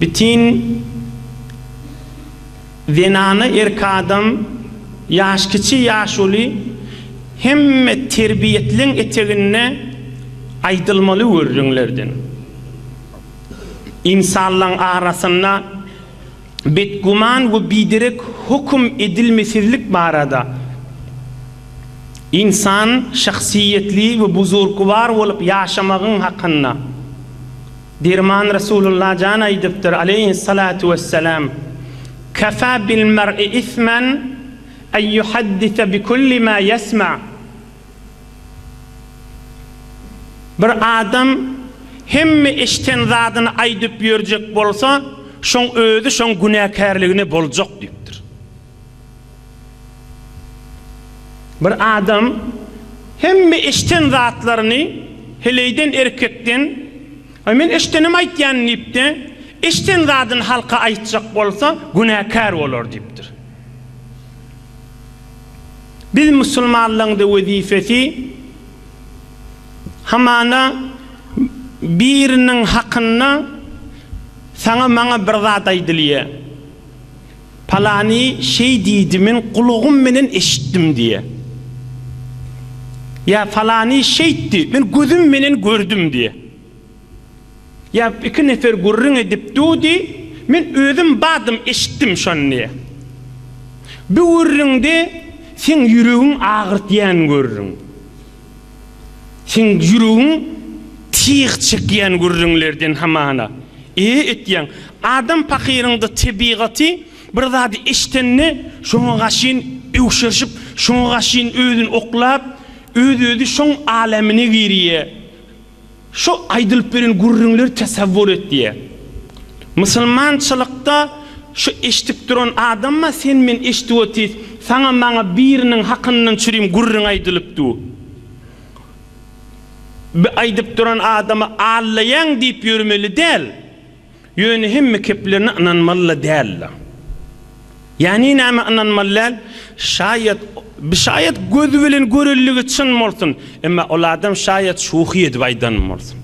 Bitin zenana erki adam ýaş kiçi ýaş uly hemme terbiýetliň eteginde aýdylmaly görüriňlerden. Ynsanlaň arasynda betguman we biderek höküm edilmesizlik barada Ynsan şahsyýetli we buzurgwar bolup ýaşamagyň hakynda. Derman Resulullah jan aýdypdyr, aleýhis-salatu wes-selam, Kefâ bil-mer'i ismen en ýuhaddise bi kulli mâ ýesme', Bir adam hemme eşden zadyny aýdyp ýörjek bolsa, şoň özi şoň günäkärligine boljak diýipdir. Bir adam hemme eşden zatlaryny heleýden erkekden Aý men eşdenim aýtýan diýipde eşden zadyny halka aýtjak bolsa günäkär bolar diýipdir. Biz musulmanlaňda wezifesi hamana biriniň hakynda saňa maňa bir zat aýdylýa. Palany şeý diýdi, men gulagym menen eşitdim diýe. Ýa Palany şeýtdi, men gözüm menen gördüm diýe. Ýa iki nefer gürrüň edip dudy, men özüm badym eşitdim şony diýe. Bu gürrüňde seň ýüregiň agyrtýan gürrüň. Seň ýüregiň tiz çekýän gürrüňlerden hamana. E etýäň. Adam pakyryňda tebigaty bir zady eşdende şoňa gaşyn öwşerşip, şoňa gaşyn özüni oklap, öz-özi şoň alamyna girýä. Şu aýdylyp beren gürrüňleri tasawwur et diýýär. Musulmançylykda şu eşdip duran adamma sen men eşdip otyrys, saňa maňa biriniň hakyndan çürim gürrüň aýdylyp dur. Bi aýdyp duran adamy allaýaň diýip ýörmeli däl. Ýöne hemme keplerine ynanmaly-da däldir. Ýani nämä ynanmaly däl? Şaýat, şaýat gözi bilen görendigi çyn bolsun, emma ol adam şaýat şuhy edip aýdan bolsun.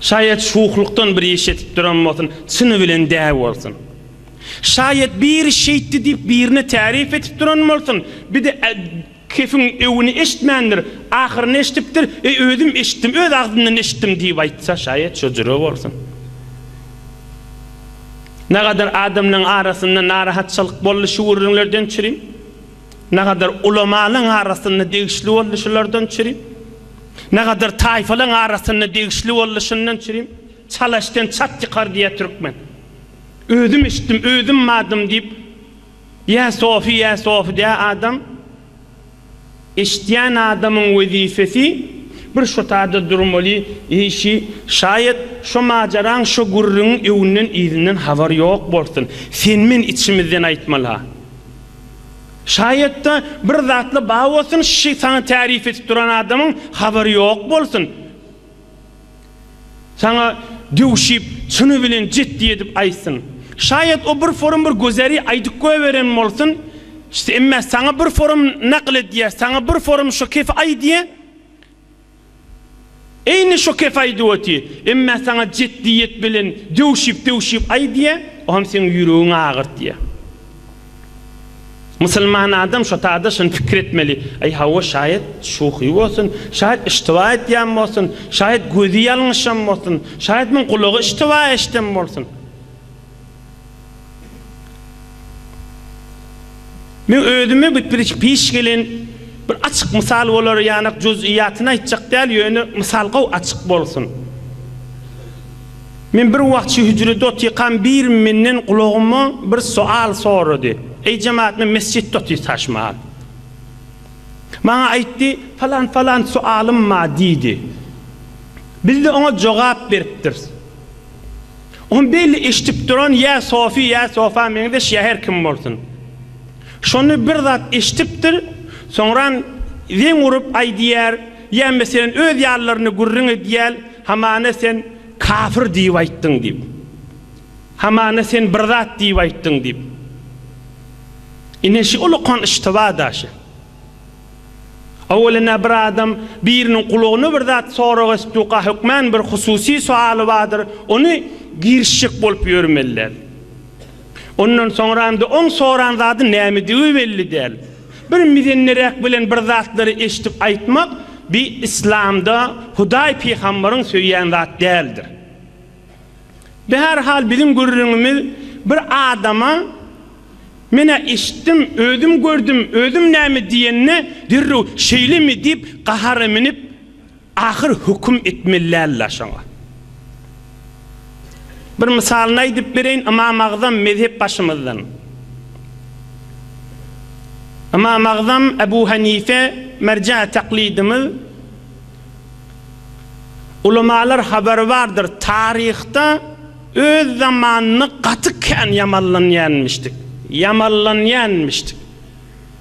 Şaýat şuhlukdan bir iş edip duran bolsun, çyny bilen dä bolsun. Şaýat biri şeýtdi diýip birine tärip edip duran bolsun, bir-de Kefiň öwüni eşitmändir, ahyryny eşidipdir, Eý, özüm eşitdim, öz agzyndan eşitdim diýip aýtsa, şaýat şo jüre bolsun. Nagadar adamlaryň arasynda narahatçylyk boldy şu gürrüňlerden çürim. Nagadar ulamalaryň arasynda degişli boldy şulardan çürim. Nagadar taýfalaryň arasynda degişli boldy şundan çürim. Çalasden çat ýykar diýýär türkmen. Özüm eşitdim, özüm madym diýip, Ýa Sofi ýa Sofi dä adam eşitýän adamyň wezipesi bir şo taýda durmaly eýşi şaýat şo majaraň şo gürrüňiň öňünden yzyndan habar ýok bolsun sen men içimizden aýtmala şaýatda bir zatla ba bolsun şi saňa tärif edip duran adamyň habary ýok bolsun. Saňa döwşip, çyny bilen jetdi edip aýtsyn. Şaýat o bir forum bir gözeri aýdyp göberen bolsun, emmä saňa bir forum nakyl edýär, saňa bir forum şo kefi aýdýa, eýni şo kefi aýdyp oty, emmä saňa jetdiýet bilen döwşip-döwşip aýdýa, o hem seň ýüregiňi agyrtýa. Musulman adam şo taýda şuny pikir etmeli, Aý hawa, şaýat şuhy bolsun, şaýat iştiba edýän bolsun, şaýat gözi ýalňyşan bolsun, şaýat muň gulagy iştiba eşden bolsun. Men özüme gepleşik peş gelen bir açyk mysal bolar ýanak juz'yýatyny aýtjak däl ýöne mysal gowy açyk bolsun. Men bir wagt şu hüjrede otyrkam biri menden gulagyma bir soal sorady. Eý jemaat men mesjitde otyrtaşman. Maňa aýtdy, falan falan soalym ma diýdi. Bizde oňa jogap beripdiris. Ony belli eşdip duran ýa sofi ýa sofa meňzeş ýa her kim bolsun. Şony bir zat eşdipdir soňran zeň urup aýdýar ýa meselen öz ýalylaryny gürrüň edýär Hamana sen kafir diýip aýtdyň diýip. Hamana sen bir zat diýip aýtdyň diýip. Ine şu ulukan iştiba daşy. Owelina bir adam biriniň gulagyna bir zat sorag etdüka hökmän bir hususy soaly bardyr, ony girişjek bolup ýörmeliler. Ondan soňram-da oň soran zady nämedigi belli däl. Bir mizenniräk bilen bir zatlary eşidip aýtmak bi Yslamda Hudaý Pygambaryň söýýän zat däldir. Bi her hal biziň gürrüňimiz bir adama Men-ä eşitdim, özüm gördüm, özüm näme diýende derrew Şeýlemi diýip gahara minip, Ahyr höküm etmelilärler şoňa. Bir mysalyny aýdyp bereýin, Ymam Agzam mezhep başymyzdan. Ymam Agzam Ebu Hanife merje taklidimiz. Ulamalar habary bardyr, taryhda öz zamanyny gaty kän ýamanlanýanmişdik. Ýamanlanýanmişdik.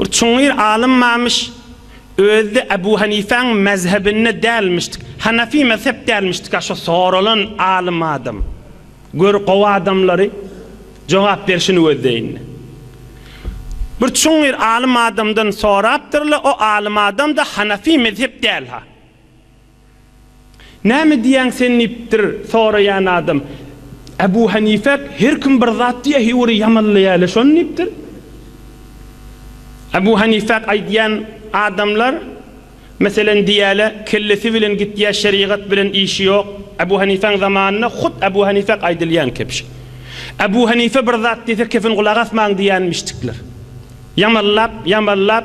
Bir çuňňur alymmammyş, özi-de Ebu Hanifäň mezhebinde dälmişdik. Hanafi mezhep dälmişdik-ä şo soralan alym adam. Gör, gowy adamlary jogap berşini gözleýin-le. Bir çuňňur alym adamdan sorapdyr-la, o alym adam-da Hanafi mezhep däl-ha. Näme diýýäň sen diýipdir soraýan adam. Ebu Hanifek her kim bir zat diýýä he bir ýamanlaýaly şony diýipdir. Ebu Hanifek aýdýan adamlar meselen diýýäle kellesi bilen gitýä şerigat bilen işi ýok. Ebu Hanifeň zamanynda hut Ebu Hanifek aýdylýan kebşi. Ebu Hanife bir zat diýse kefin gulak asmaň diýýänmişdikler. Ýamanlap ýamanlap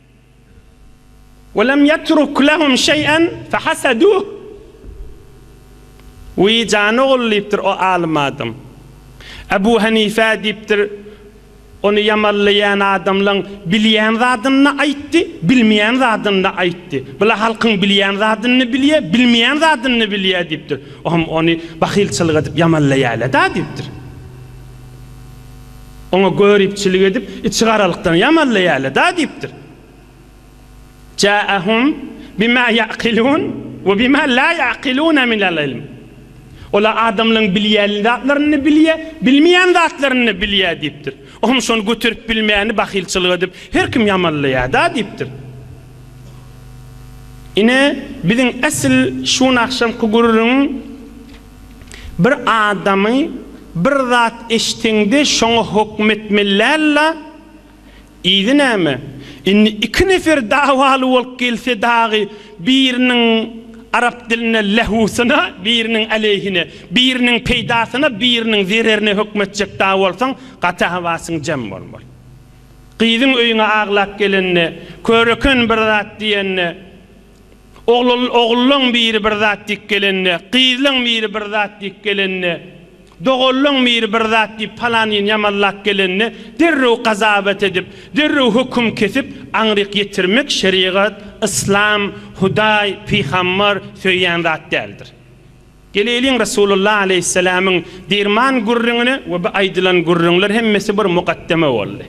Welem ýetruk lehum şeý'en fehaseduh. Wiý, jan ogul, diýipdir o alym adam. Ebu Henife diýipdir, Ony ýamanlaýan adamlaň bilýän zadyny-da aýtdy, bilmeýän zadyny-da aýtdy. Bu-la halkyň bilýän zadyny-da bilýär, bilmeýän zadyny-da bilýär, diýipdir. O hem ony bahylçylyk edip ýamanlaýarlar-da, diýipdir. Oňa göripçilik edip, içigaralykdan ýamallaýarlar-da diýipdir. Ja'ahum bima ya'kilun we bima la ya'kiluna minel ilm. Olar adamlaryň bilýän zatlaryny-da bilýär, bilmeýän zatlaryny-da bilýär diýipdir. O hem şony göterip bilmeýäni bahylçylyk edip, her kim ýamallaýar-da diýipdir. Ine, biziň esl şuny agşamky gürrüň. Bir adamy bir zat eşdeňde şoňa hokm etmellälla yzy näme indi iki nefer dawaly bolup gelse dagy biriniň arap dilinde lehusyna biriniň aleýhine biriniň peýdasyna biriniň zererine hokm etjek dagy bolsaň gaty hawasyň jem bolmaly gyzyň öýüňe aglap gelende köreken bir zat diýende Ogluň biri bir zat diýip gelende, gyzlyň biri bir zat diýip gelende, doganlyň biri bir zat diýip palanyny ýamanlap gelende derrew gazabat edip, derrew höküm kesip aňryk ýetirmek şerigat, yslam, Hudaý, pygambar söýýän zat däldir. Geleliň Resulullah aleýhisselamyň dirman gürrüňine we bu aýdylan gürrüňler hemmesi bir mukaddeme boldy.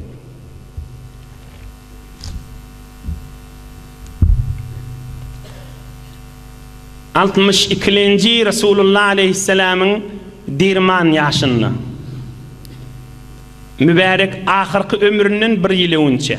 Altmyş ikilenji Resulullah aleýhisselamyň dirman ýaşynda. Mübärek ahyrky ömründen bir ýyl öňünçä.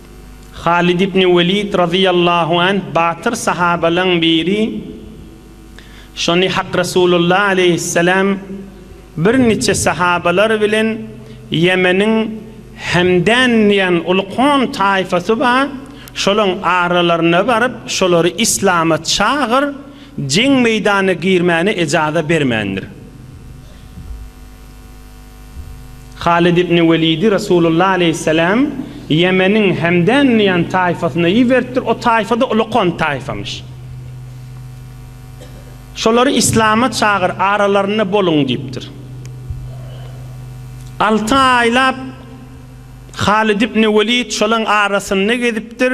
Halid ibn Welid razyýallahu anh batyr sahabalaň biri şony Hak Resulullah aleýhisselam bir niçe sahabalar bilen Ýemeniň Hemdan diýen uly kom taýfasy bar şolaň aralaryna baryp şolary islama çagyr jeň meýdana girmäne ejaza bermändir. Halid ibn Welidi Resulullah aleýhissalam Ýemeniň Hemdan diýen taýfasyna iberipdir, o taýfa-da uly kont taýfamyş. Şolary islama çagyr, aralarynda boluň diýipdir. Alty aýlap Halid ibn Welid şolaň arasynda gezipdir.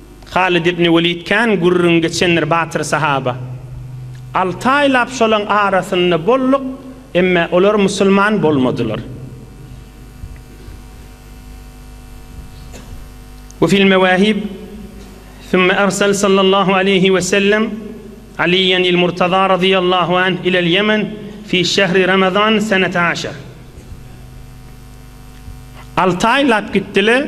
Halid ibn Welid kän gürrüň geçendir batyr sahaba. Alty aýlap şolaň arasynda bolduk, emme olar musulman bolmadylar. We fil mewahib, Thumma ersel sallallahu aleýhi we sellem Aliyyan il Murtaza radyýallahu anh ilel Ýemen fi şehri Ramazan senete aşar. Alty aýlap gitdiler.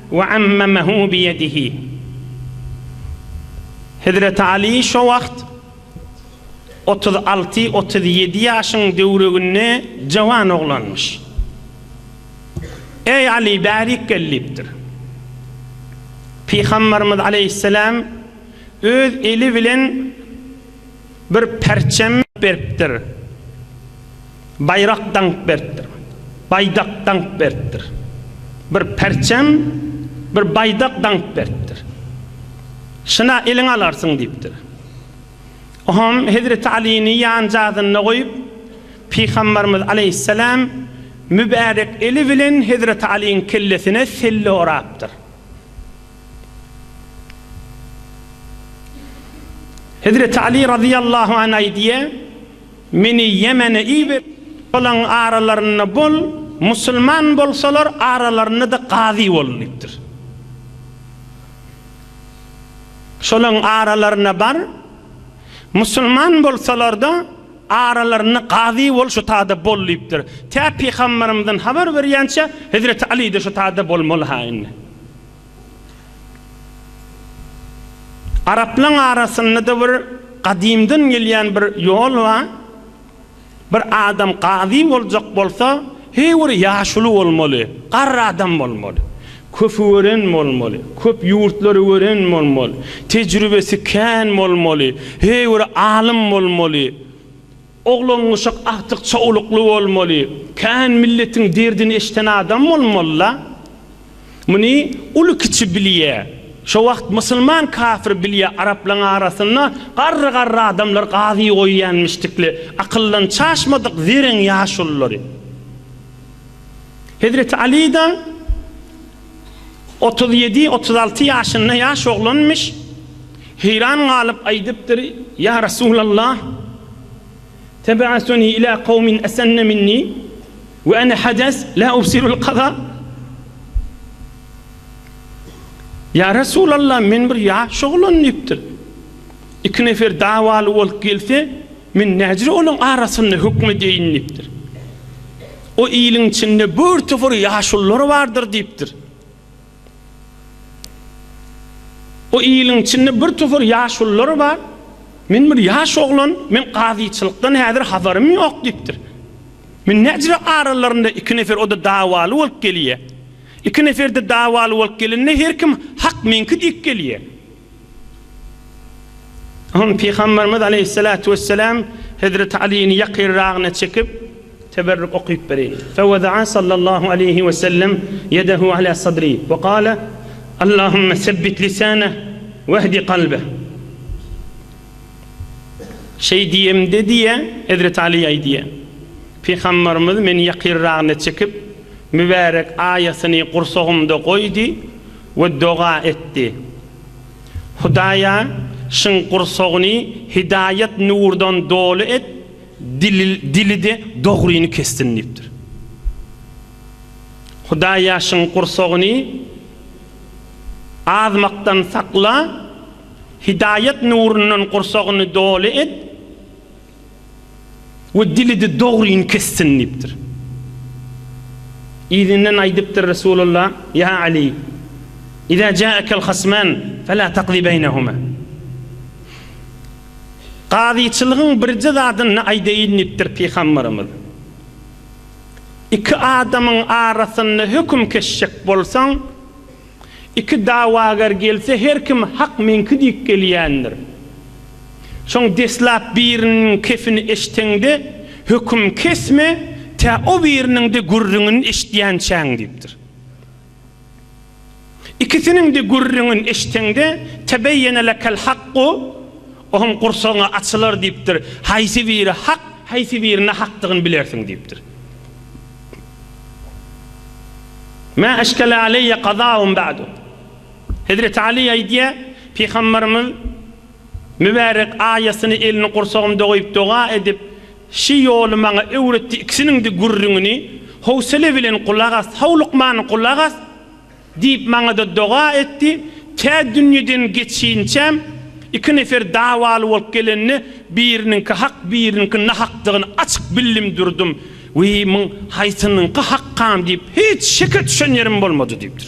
We ammemehu biyedihi. Hezreti Aly şo wagt otuz alty, otuz ýedi ýaşyň döwreginde jawan oglanmyş. Eý Aly, bärik gel diýipdir. Pygamberimiz aleýhisselam öz eli bilen. Bir perçem beripdir. Baýrak daňyp beripdir. Baýdak daňyp beripdir. Bir perçem, bir baýdak daňyp beripdir. Şyna eliňe alarsyň diýipdir. Oňam hezreti Alyny ýanjazynda goýup, pygambarymyz aleýhissalam mübärek eli bilen hezreti Alyň kellesine selle orapdyr. Hezreti Aly razyýallahu an aýdýa, Meni Ýemene iber, olaň aralarynda bol, musulman bolsalar, aralarynda-da gazy bol diýipdir. Şolaň aralaryna bar, musulman bolsalar-da, aralarynda gazy bol, şu taýda bol diýipdir. Tä Pygamberimiziň habar berýänçä, Hezreti Aly-de şu taýda bolmaly-ha indi. Araplaň arasyndada bir gadymdan gelýän bir ýol ba, bir adam gazy boljak bolsa heý bir ýaşuly bolmaly, garry adam bolmaly, köpi gören bolmaly, köp ýurtlary gören bolmaly, tejribesi kän bolmaly, heý bir alym bolmaly, Oglangyşak agtyk çowlukly bolmaly, kän milletiň derdini eşden adam bolmalyla. Muny uly kiçi bilýä. Şo wagt musulman kafir bilýä araplaň arasynda garry garry adamlar gazy goýýanmişdikle akyldan çaşmadyk zereň ýaşululary. Hezreti Alyda. Otuz ýedi, otuz alty ýaşynda ýaş oglanmyş, heýran galyp aýdypdyr, Ýa Resulallah, Teb'asuni ilâ kawmin esenne minni we ene hades lâ ubsirul kaza. Ýa Resulallah, men bir ýaş oglan diýipdir. Iki nefer dawaly bolup gelse, Men nädire olaryň arasynda höküm edýäýin diýipdir. O iliň içinde bir topar ýaşulular bardyr diýipdir. O iliň içinde bir topar ýaşulular bar. Men bir ýaş oglan, men gazyçylykdan häzir habarym ýok diýipdir. Men nädire aralarynda iki nefer o-da dawaly bolup gelýär. Iki nefer-de dawaly bolup gelende her kim hak meňki diýip gelýär. Soň Pygamberimiz aleýhissalatu wessalam Hezreti Alyny ýakyrragyna çekip, teberrük okyp bereýin. Fewedaa sallallahu aleýhi wesellem ýedehu ala sadri we gale, Allahumma sebbit lisane wehdi kalbe. Şeý diýemde diýýä, Hezreti Aly aýdýa, Pygamberimiz meni ýakyrragyna çekip, mübärek aýasyny gursagymda goýdy. We doga etdi. Hudaýa, Şyň gursagyny hidaýat nurdan doly et, dili-de dogryny kessin diýipdir. Hudaýa, Şyň gursagyny azmakdan sakla, hidaýat nurundan gursagyny doly et. we dili-de dogryny kessin diýipdir. Yzyndan aýdypdyr Resulullah, Ýa Aly, Iza ja'akel hasman fela taqzi beýnehuma. Gazyçylygyň birje zadyny aýdaýyn diýipdir Pygamberimiz. Iki adamyň arasynda höküm kesjek bolsaň, Iki dawagar gelse her kim hak meňki diýip gelýändir. Soň deslap biriniň kefini eşteňde höküm kesme tä o biriniňde gürrüňini eşitýänçäň diýipdir. Ikisiniňde gürrüňini eşteňde tebeýene lekel hakku ohm gursagyňa açylar diýipdir, haýsy biri hak, haýsy biri nahakdygyny bilersiň diýipdir. Mä eşkele aleýe gazahum ba'du. Hezreti Aly aýdýar, Pygamberimiz mübärek aýasyny elini gursagymda goýup doga edip, Şi ýoly maňa öwretdi ikisiniňdi gürrüňini howsele bilen gulak as, howlukman gulak as! Diýip, maňa-da doga etdi. Tä dünýeden geçinçäm, iki nefer dawaly bolup gelende, biriniňki hak, biriniňki nahakdygyny açyk bildim durdum. Wiý, muň haýsynyňky hakgam diýip, hiç şeke düşen ýerim bolmady diýipdir.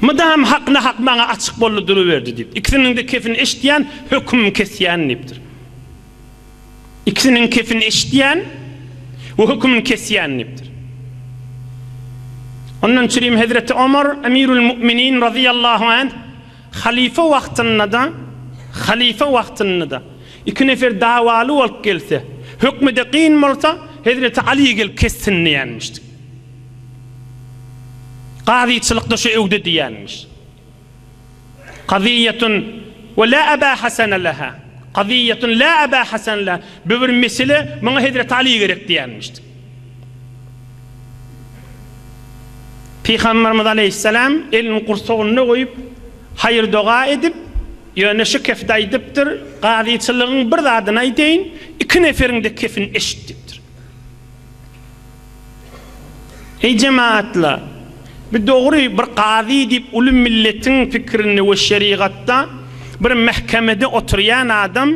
Mydam hak-nahak maňa açyk boldy duruberdi diýip, ikisiniň-de kepini eşitýän, hökümimi kesýän diýipdir. Ikisiniňkisini eşitýän we hökümini kesýän diýipdir. Ondan çürim hezreti Omar Emirül Mu'minin razyýallahu anh halyfa wagtyndada halyfa wagtyndada iki nefer dawaly bolup gelse, hökmüde kyn bolsa, hezreti Aly gelip kessin diýenmişdi. Gazyçylykda şu öwde diýenmiş. Kazyýetun we la aba hasana laha, kazyýetun la aba hasana laha, bu bir mesele, muňa Hezreti Aly gerek diýenmişdi. Pygamberimiz aleýhissalam elini gursagynda goýup, haýyr-doga edip, ýöne şu kefde aýdypdyr, Kazyçylygyň bir zadyny aýdaýyn, iki neferiň-de kefini eşit diýipdir. Eý jemagatlar! Bu dogry bir kazy diýip uly milletiň pikirinde we şerigatda bir mähkemede oturýan adam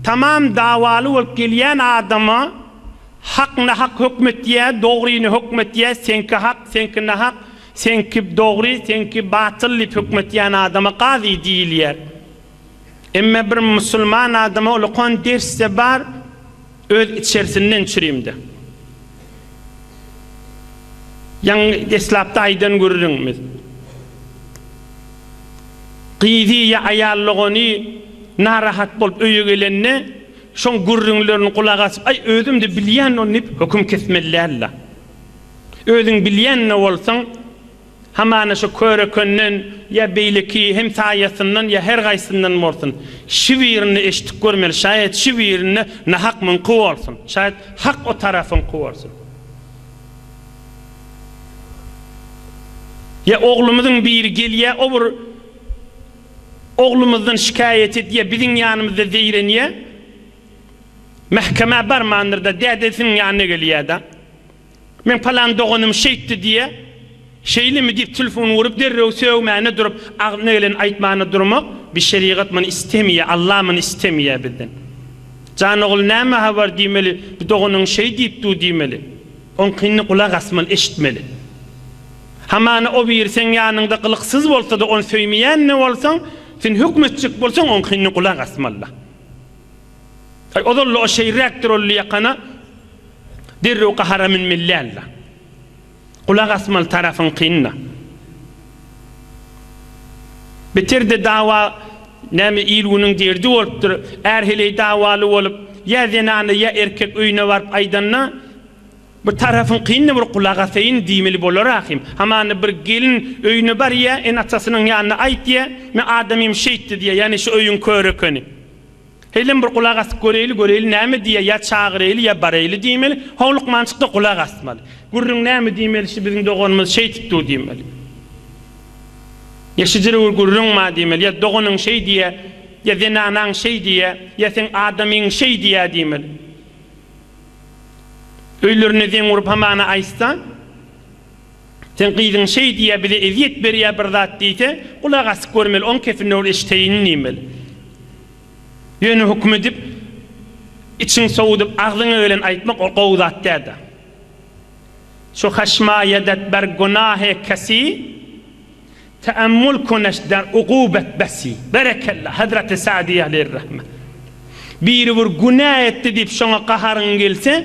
tamam dawaly bolup gelýän adama hak nahak hökm etýä dogryny hökm etýä seňki hak seňki nahak seňki dogry seňki batyl diýip hökm etýän adama kazy diýilýär. Emme bir musulman adama ulukan ders-de bar öz içersinden çürimde. Ýaňy deslapda aýdan gürrüňimiz. Gyzy ýa aýal dogany narahat bolup öýe gelende şoň gürrüňlerini gulak asyp aý özüm-de bilýän ony diýip höküm kesmeli däl-de. Özüň bilýän-de bolsaň. Hamana şu köre-könden ýa beýleki hem saýasyndan ýa her gaýsyndan bolsun, şü birini eşitip görmeli, şaýat şü birinde nahak muňky bolsun, şaýat hak o tarapyňky bolsun. Ýa oglumyzyň biri gelýä, o bir oglumyzdan şikaýat edýä, biziň ýanymyzda zeýrenýä, mähkemä barmandyr-da, dädesiniň ýanyna gelýä-da. Men palan doganym şeýtdi diýýä. Şeýlemi diýip telefon urup derrew sögmäne durup agzyna geleni aýtmana durmak bi şerigat muny istemýä Alla muny istemýä bizden. Jan ogul näme habar diýmeli bi doganyň şeý diýip dur diýmeli. Oňkyny gulak asmaly eşitmeli. Hamana o biri seň ýanyňda gylyksyz bolsada ony söýmeýände bolsaň sen hökmetjek bolsaň oňkyny gulak asmaly. Aý, ozal-la o şeýräkdir ol ýakana derrew gahara münmeli däl-la. Gulak asmaly tarapyňkyny-da. Beter-de dawa, näme il-günüň derdi bolupdyr. Är heleý dawaly bolup, ýa zenana, ýa erkek öýüne baryp aýdanda, bir tarapyňkyny-da bir gulak asaýyn diýmeli bolar ahym. Hamana bir gelin öýüne barýa, ene-atasynyň ýanyna aýt diýýä, Men adamym şeýtdi diýýä, ýagny şu öýüň köri ekeni. Heýlem bir gulak asyp göreýli, göreýli näme diýýär, ýa çagyreýli, ýa bareýli diýmeli. Ho lukmançykda gulak asmaly. Gürrüň näme diýmeli, şi biziň doganymyz şeýtip dur diýmeli. Ýa şi jire bir gürrüň bar diýmeli, ýa doganyň şeý diýýär, ýa zenanaň şeý diýýär, ýa seň adamyň şeý diýýär diýmeli. Öýlerinde zeň urup hamana aýtsa. Seň gyzyň şeý diýýä bize ezýet berýä bir zat diýse gulak asyp görmeli oň kepine ol eşteýin diýmeli. Ýöne hukm edip içiň sowudyp agzyňa gelen aýtmak ol gowy zat dälda. Şu haşmaýadat ber gunahy kesy teammul kuneş der ugubat besi. Berekella Hazreti Sa'diýe aleyhir rahme. Biri bir günä etdi diýip şoňa gaharyň gelse,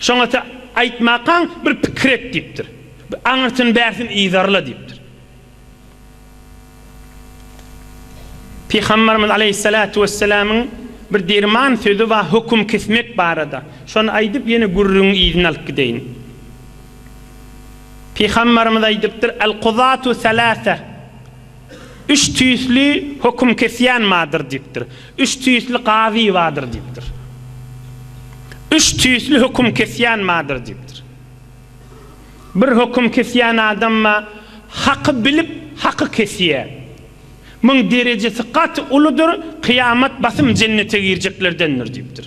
Şoňa-da aýtmakaň bir pikir et diýipdir. Bir aňyrsyn-bärsin yzarla diýipdir. Pygamberimiz aleýhissalatu wesselamyň bir derman sözi bar höküm kesmek barada. Şony aýdyp ýene gürrüňiň yzyny alyp gideýin. Pygamberimiz aýdypdyr, Al-kuzatu salasa. Üç tüýsli höküm kesýän bardyr diýipdir. Üç tüýsli gazy bardyr diýipdir. Üç tüýsli höküm kesýän bardyr diýipdir. Bir höküm kesýän adam bar, haky bilip, haky kesýär. Muň derejesi gaty uludyr, kyýamat basym jennete girjeklerdendir diýipdir.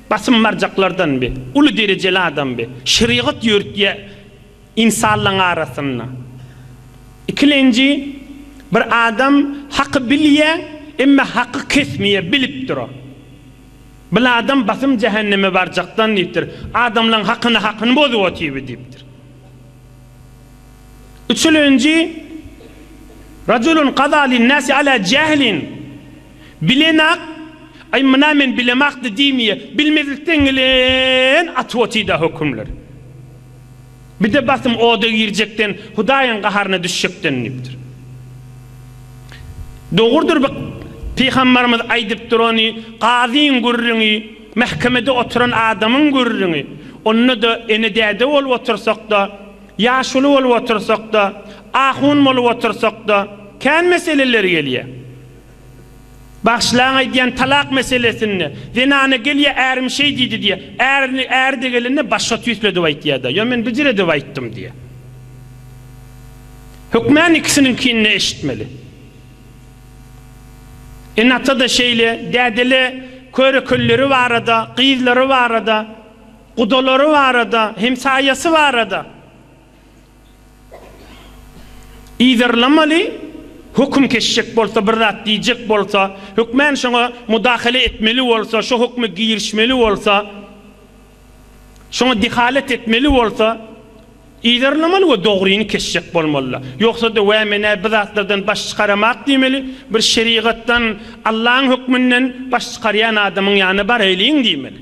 Basym barjaklardan bi, uly derejeli adam bi, şerigat ýörütýä insanlaň arasynda. Ikilenji, bir adam haky bilýä, emme haky kesmýä, bilip dura. Bil adam basym jähenneme barjakdan diýipdir, adamlaň hakyny hakyny bozup otyby diýipdir. Üçülenji, Rajulun gada lin nasi ala jählin, Bilenak, Aý, muna men bilemak-da diýmýä, bilmezlikden gelen atwoty-da hökümler. Bir-de basym oda girjekden, Hudaýyň gaharyna düşjekden diýipdir. Dogrudyr bu pygambarymyz aýdyp durany, Gazyň gürrüňi, mähkemede oturan adamyň gürrüňi, onda-da ene-däde bolup otursak-da, ýaşuly bolup otursak-da, ahun bolup otursak-da, kän meseleler gelýär. Bagşylaň aýdýan talak meselesinde zenana gelýär ärim şeý diýdi diýýär. Ärini äri-de gelende başga tüýsledip aýtýar-da, ýa men bijiredip aýtdym diýýär. Hökmän ikisiniňkini-de eşitmeli. Ene-ata-da şeýle, däde-le köre-kölleri barada, gyzlary barada, gudalary barada, hemsaýasy barada. Yzarlamaly, höküm kesjek bolsa, bir zat diýjek bolsa, hökmän şoňa mudahale etmeli bolsa, şo hökme girişmeli bolsa, şoňa dehalet etmeli bolsa, yzarlamaly we dogryny kesjek bolmalyla. Ýogsa-da, Wä, men-ä bi zatlardan baş çykaramok diýmeli, bir şerigatdan, Allaň hökmünden baş çykarýan adamyň ýanyna baraýlyň diýmeli.